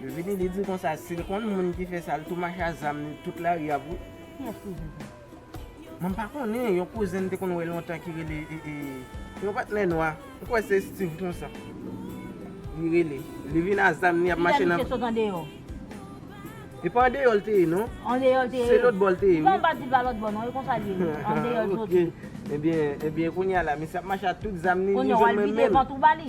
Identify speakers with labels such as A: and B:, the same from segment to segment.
A: Li vini li di konsa sil konn moun ki fè sa li tou mache a zam li tout lari ap wè. Ki yès kouzin
B: sa? Mwen
A: pa konnen yon kouzin m te konn wè lontan ki rele ee yon patnè nwa m kwè se Steeve konsa li rele li vin a zam li ap mache nan. Kilè misye sot andeyò? E pa andeyò l te ye non. Andeyò l te ye? Se
B: lòtbò l te ye wi. Poutan
A: m pa di l pa lòtbò
B: non e konsa l ye wi andeyò l soti. Ok ebyen
A: ebyen kounya la misye ap mache a tout zam li li jwenn mwen menm. Kounya w al vide vant ou
B: ba li?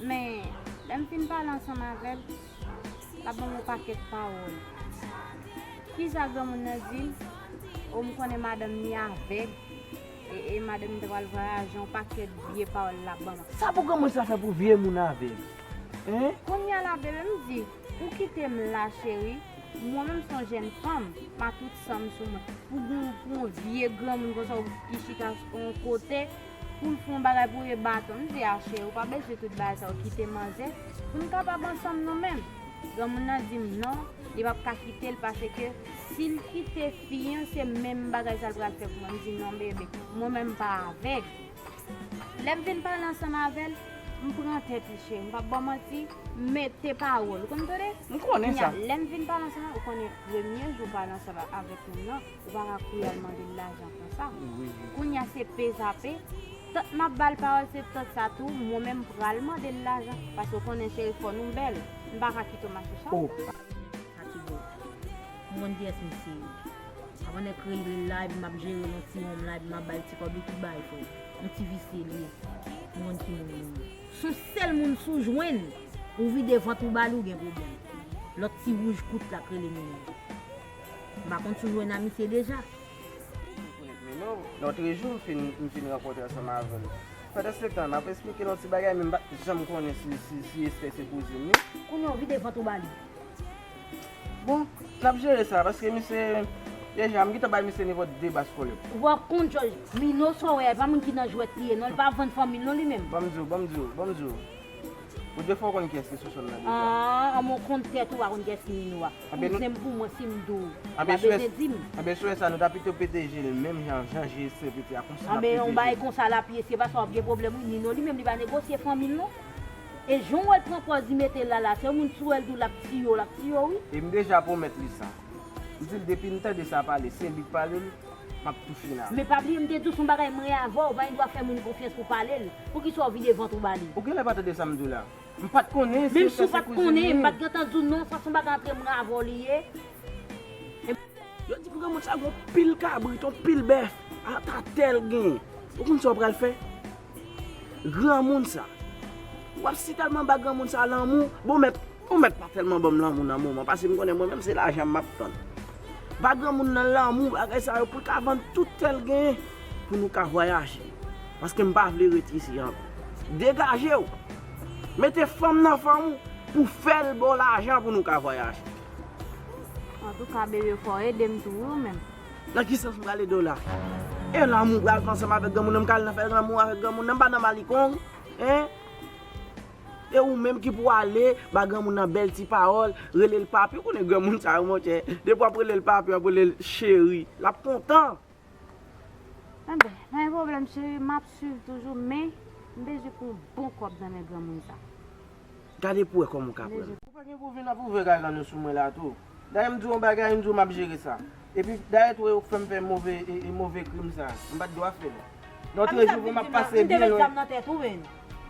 C: Men, lè m fin pale ansanm avè l, l ap ban m yon pakèt pawòl. Ki sa granmoun nan di l? O, m konnen madanm ni avèg, e madanm ni ta pral vwayaje, yon pakèt vye pawòl l ap ban m. Sa pou granmoun sa fè
A: pou vye moun avèg? Hein? Kounye a la bebe,
C: m di, ou kite m la cheri, mwen menm m s on jèn fanm, m a tout san m sou mwen, pou w gen yon vye granmoun konsa ki chita on kote, Poul fè yon bagay pou e baton m di Ache ou pa bezwen tout bagay sa ou kite manzè pou nou kapab ansanm nou menm granmoun nan di m non li pap ka kite l pase ke si l kite fi an se menm bagay sa l pral fè pou mwen m di non bebe mwen menm m pa avèg lè m fin pale ansanm avè l m pran tèt li cheri m pap baw manti m mete pawòl ou konn m tande lè
A: m fin pale ansanm ou
C: konnen premye jou pale ansanm avèk moun nan. Ou pa ka kouri al mande l lajan konsa. Kounye a se pe sa pe. Tant m ap ba l pawòl se tant sa tou mwen menm m pral mande l lajan. Paske ou konnen cheri fò nou bèl. M pa ka kite w mache chal pou mwen.
B: Atibò, m konn kiyès misye ye. Avan nèg kreyil li la epi m ap jere l yon ti wonm la epi m ap ba l ti kòb li tout bay frè. Yon ti visye li ye. M konn ki moun li ye. S on sèl moun si w jwenn, ou vide vant ou ba li ou gen pwoblèm. Lòt ti wouj kout la k rele Minaj. M pa konn
A: si w jwenn amitye deja. Lotre jou m fin rankontre ansanm avè l. Pandansetan, m ap esplike l yon ti bagay men m pa t janm konnen si Estè se kouzin li. Kounye w vide vant
B: ou ba li.
A: Bon, n ap jere sa paske misye deja m gentan bay misye nivo 2 bas kolèt. Ou pa konn jòj.
B: Mino sa w wè a, e pa moun ki nan jwèt li ye non. Li pa vann fanmi l non li menm. Ban m di w, ban m di w, ban m
A: di w. Ou dwe fè w konn kiyès ki sou sòl la deja. Aah anmwee w konn
B: tèt ou pa konn kiyès ki Nino a. Kouzen m pou mwen si m di w wap bese di
A: m. Anben sou lè sa nou ta pito pete je l menm jan jan je sè pete a konsa n ap pete je l. Anben yon bagay konsa l
B: ap ye se pa sa wap gen pwoblèm wi Nino li menm li pa negosye fanmi l non. E jan w wè l pran pòz li mete l la la se yon moun si w wè l di w l ap tiye w l ap tiye w wi. E m deja pwomèt
A: li sa. M di l depi m tande sa pale se li k pale l. map toufe la. Men pa bliye m te diw son bagay
B: mwen avèw pa gen dwa fè moun konfyans pou palel, poukisa w vide vant ou ba li. Ou genlè pa tande sam diw
A: la. M pat konnen si Esther se kouzin li. Menm si w pat konnen,
B: m pat gentan diw non, sa son bagay antre mwen avèw li ye.
A: Yo di granmoun sa gen yon pil kabrit, yon pil bèf, ata tel gen. Ou konn sa w pral fè? Granmoun sa. Ou ap si tèlman ba granmoun sa lanmou. Bon mèt, bon mèt pa tèlman banm lanmou nan moman. Pase m konnen mwen menm se lajan m ap tann. Ba granmoun nan lanmou bagay sa yo pou l ka vann tout tè l genyen pou nou ka vwayaje. Paske m pa vle ret isi ankò. Degaje w. Mete fanm nan fanm ou pou fè l ba w lajan pou nou ka vwayaje.
C: Antouka bebe fò w ede m tou wi ou menm. Nan ki sans m pral
A: ede w la? E lanmou m pral fè ansanm avèk granmoun nan? M ka al nan fè lanmou avèk granmoun nan? M pa nan malikong? Hein? E ou menm ki pou ale ba granmoun nan bèl ti pawòl, rele l papi, ou konnen granmoun sa yo monchè, depi w ap rele l papi, w ap rele l cheri, l ap kontan.
C: Enben, pa gen pwoblèm cheri, m ap swiv toujou men, m bezwen pou yon bon kòb nan men granmoun sa. Gade pou
A: w wè kòman w ka pran l. Ou pa gen pou vin ap ouvè kay lan yo sou mwen la tou? Dayè m di w yon bagay, m di w m ap jere sa. Epi dayè tou e yo k fè m fè move move krim sa. M pa t dwa fè l. Nan trè jou pou m ap pase byen lwen. Amisha ap di m nan, m te met zam nan tèt ou menn.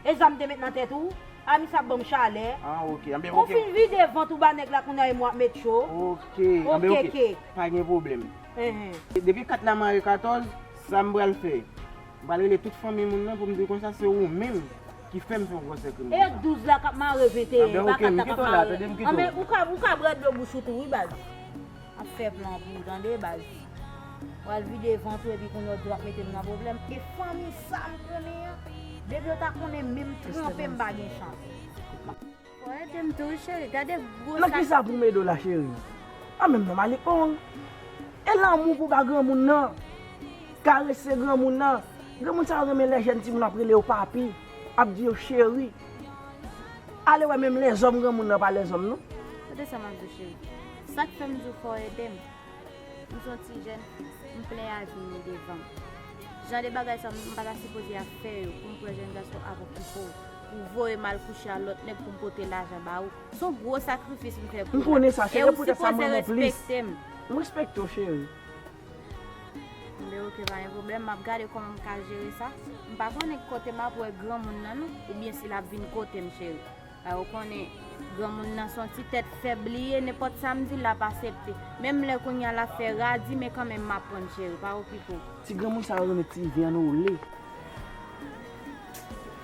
B: E zam m te met nan tèt ou? Amisha ap ban m chalè. Ah ok, anben ok. Ou
A: fin vide vant ou ba
B: nèg la kounya e mwen ap met cho. Ok, anben
A: ok. Pa gen pwoblèm. Depi kat la mare katòz, sa m pral fè? M pral rele tout fanmi moun nan pou m di l konsa se ou menm ki fè m fè yon gwosè krim konsa. E 12 la k ap mare
B: 21 an, e pa 4 la k ap mare 1 an. Anben, ou ka bwè dlo bouch ou tou wi baz. Ap fè plan pou ou tande baz. W al vide vant ou epi kounye a w di w ap mete m nan pwoblèm. E fanmi sa m konnen an, depi yo ta konnen menm tranpe m pa gen chans.
C: Nan kisa pou medo la
A: cheri. An menm non malik on. E lanmou pou ba granmoun nan. Karese granmoun nan. Granmoun sa yo renmen lè jèn timoun ap rele yo papi. Ap di yo cheri. Ale wè menm lèzòm granmoun nan pa lèzòm non. Kote sa map di
C: cheri. Sak fèm di w fò w edem. M son ti jèn. M plen avni m devan m. Jan de bagay sa m pata sipoze ap fè yo pou m pran jèn gason ap okipe w. Ou voye mal kouche a lot neg poum pote lajan ba ou. Son gwo sakrifis m fè pou ou la. M konnen sa cheri e pou tèt
A: sa m renmen w plis. M respekte
C: w cheri. Mbe ok pa gen pwoblem map gade koman m ka jere sa. M pa konnen ki kote map wè granmoun nan non ou byen si lap vin kotem cheri. Paske ou konnen granmoun nan son ti tèt fèb li ye nenpot sa m dil lap asepte. Menm lè kounya lap fè radi men kanmenm map prann cheri pa okipe w. Ti granmoun sa yo renmen
A: ti vyann ou le.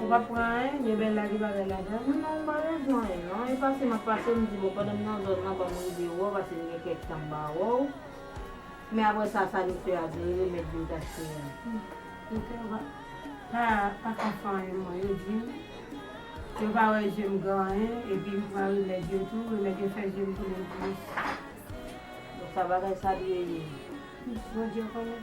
D: Ou pap pran anyen, gen bèl lage bagay ladan. Mwen non mpa bezwen anyen
B: non, e pase map pase mdi bon pandan m nan zòn nan banm rive wè w pase m gen kèk tan m pa wè w, men aprè sa sa nou fè a vle remèt vin tache a. Doktè yo
D: pa paka fè anyen mwen, yo di m yo pa wè je m gen anyen epi m pran remèd yo tou remèd yo fè je m tounen plis.
B: Bon sa bagay sa dwe ye. Bondye
D: konnen.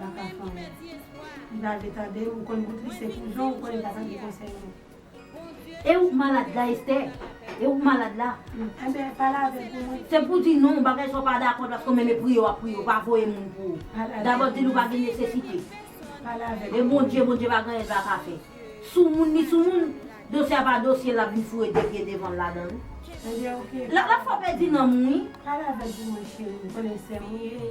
D: nan ka fanm ou li pa vle tande ou konn bout li se pou jan ou
B: konn li
D: pa tande konsèy
B: moun.
D: E ou
B: k malad
D: la Estè? E
B: ou k malad la? Enben pa lave
D: l pou mwen. Se pou w di non, bagay
B: sa w pa dakò paske w menm e priye w ap priye, w pa voye moun pou ou. Dabò di l ou pa gen nesesite. Pa lave
D: l. E Bondye, Bondye pa gen
B: anyen l pa ka fè. Sou moun li sou moun, dosye a pa dosye l l ap vin foure de pye devan l ladan l. Enben
D: ok. L ap fè w pèdi nanm
B: ou wi. Pa lave l pou mwen
D: cheri, ou konnen sè m ou ye.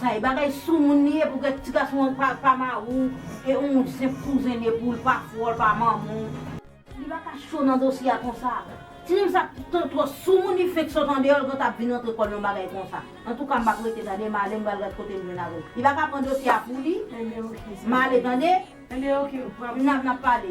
B: Sa e bagay soumoun li ye pou kèk ti gason an pa pa mariw e on senp kouzen li poul pa frèw pa manmanw. Li pa ka cho nan dosye a konsa. Ti nèg sa trò soumoun li fenk sot andeyò li gentan ap vin rantre kòl nan bagay konsa. Antouka m pap rete tande male m pral gad kote m jwenn avèw. Li pa ka pran dosye a pou li male
D: tande. Nap pale.